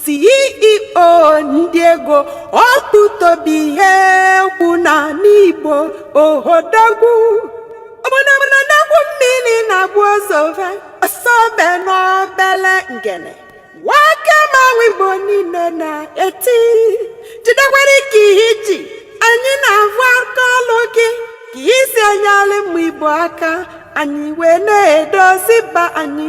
CEO ndị ego ọkpụtobi ihe kwụ n'ana Igbo odogwu ọbụnabụna na-akwụ mmiri na-agbụ ọsọve ọsọbe n'obele ngene nwoke mmanwụ Igbo niile na-eti jidekwara ka i ji anyị na-avụ aka ọlụ gị ka i si enyere ụmụ Igbo aka anyị wee na-edozi be anyị